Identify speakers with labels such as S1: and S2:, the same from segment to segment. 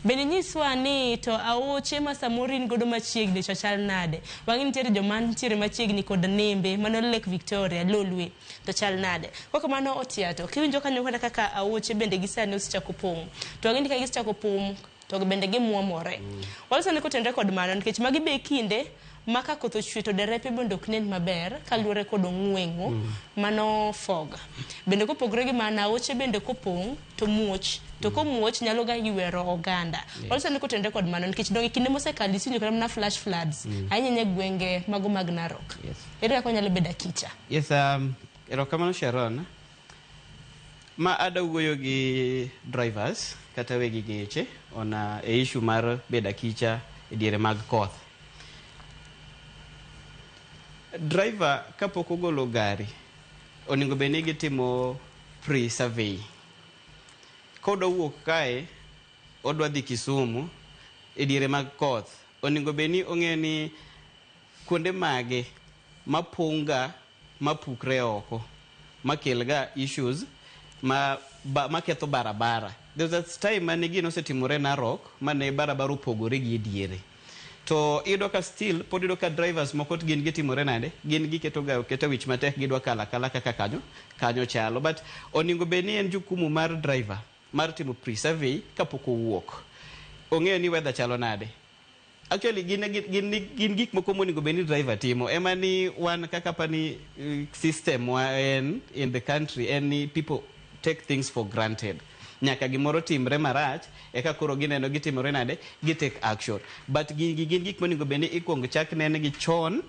S1: Bende nyiswa ani to aoche ma samoro in godo machiegni cha chal nade. Wang'e nitiere joma nitiere machiegni kod nembe mano Lake Victoria, Lolwe to chal nade. Kok kamano Otiato, kiwinjo kanyo kata kaka aoche bende gi sani osechako pong'. To wang'e ni ka gisechako pong' to bende gimwomore. Walosone kotenre kod mano nikech magi be e kinde ma ka koth ochwe to derepe bende ok nen maber kaluwore kod ong'ueng'o mano fog. Bende kopogore gi mano, aoche bende kopong' to muoch, to komuoch nyalo ga ywero oganda. Waloso ni kotenore kod mano nikech donge kinde mosekalo isewinjo kata mana flash floods ahinya ahinya e gwenge mago mag Narok. Yes. Ere kaka onyalo bedo akicha? Yes, um,
S2: erokamano Sharon. Ma ada wuoyo gi drivers kata wegi geche on uh, e issue mar bedo akicha e diere mag koth. Driver kapok ogolo gari onego bed ni gitimo pre-survey. Kodwa wuok kae odwa dhi Kisumu e diere mag koth, onego bed ni ong'eyo ni kuonde mage mapong'ga mapukre oko makelga issues ma ba maketho barabara. There was a time mane gino osetimore Narok mane barabara opogore gi e diere. To iyudo ka still pod iyudo ka drivers moko gin gitimore nade? Gin giketo ga oketa wich matek gidwa kalo akala kaka kanyo kanyo chalo. But oningo bed ni en jukumu mar driver mar timo pre-survey kapok owuok. Ong'eyo ni weather chalo nade. Actually gin gin gin, gin gik moko moningo bed ni driver timo. Ema ni wan kaka pani eh, system wa en in the country en ni people take things for granted nyaka gimoro timre marach eka koro gineno gitimore nade gi take action but gigi gin gik monego bed ni ikwongo chak nenegi chon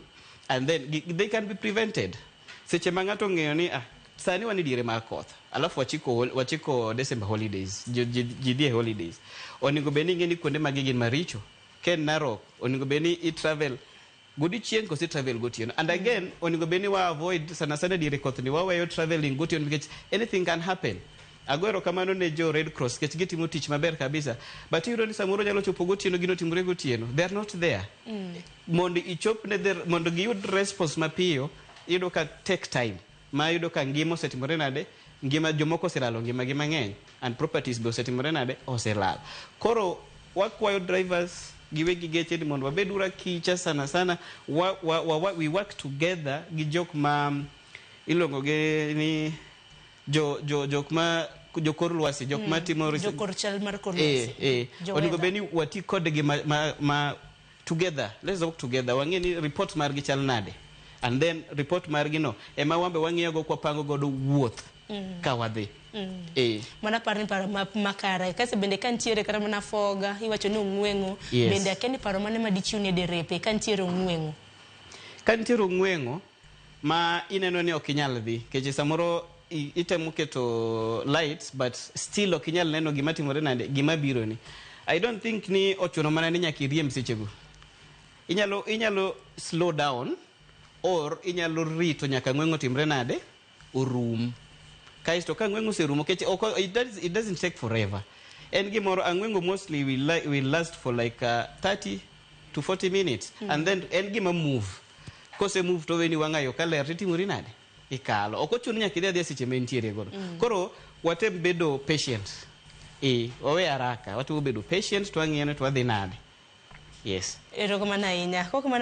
S2: and then gi- they can be prevented seche ma ng'ato ong'eyo ni ah, sani wan e diere mar koth alafu wachiko, hol- wachiko december holidays ji- ji ji dhi e holidays onego bed ni ing'e ni kuonde magi gin maricho ken narok onego bed ni i travel godiochieng' kose travel gotieno and again mm. onego bed ni wa avoid sana sana diere koth ni waweyo traveling gotieno nikech anything can happen agoero kamano ne jo red cross kech gitimo tich maber kabisa but iyudo ni samoro nyalo chopo gotieno gino timore gotieno they are not there mm. mondo ichop ne mondo giyud response mapiyo iyudo ka take time ma yudo ka ngima osetimore nade ngima jomoko oselalo ngimagi mang'eny and properties be osetimore nade oselal koro wakwayo drivers giwegi geche ni mondo wabed ura kicha sana sana wa, wa, wa, wa, we work together gi jok ma mm, iluongo gi ni jo, jo, jok ma jokor lwasi jok ma timo res- Jokor chal mar kor
S1: eh, lwasi. eh. Jo onego weather. bed ni
S2: wati kodgi ma, ma, ma together let's work together wang'e ni report margi chal nade and then report margi no ema wambe wang'iyo go kwa pango godo wuoth mm. ka wadhi mm. eh. mana
S1: paro ni paro ma, makare kase bende ka nitiere kata mana foga iwacho ni ong'weng'o yes. bende akia ni paro mane ma dichiw ni derepe ka nitiere ong'weng'o ka nitiere ong'weng'o
S2: ma ineno ni ok inyal dhi keche samoro i- itemo keto light but still ok inyal neno gima timore nade gima biro ni i don't think ni ochuno mana ni nyaka iriemb sechego inyalo inyalo slow down or inyalo rito nyaka ng'weng'o timre nade orum kaisto ka ang'wengo oserumo kech ok it, does, it doesn't take forever en gimoro ang'wengo mostly will, li- will last for like uh, 30 to 40 minutes mm. and then en gima move kose move to weni wang'ayo ka ler titimori nade ikalo ok ochuno nyaka idhi adhiya seche ma entiere godo mm. koro watem bedo patient e wawe haraka watemo bedo patient twang'iyone twadhi nade
S1: yes
S2: Erokamano ahinya. Kok mano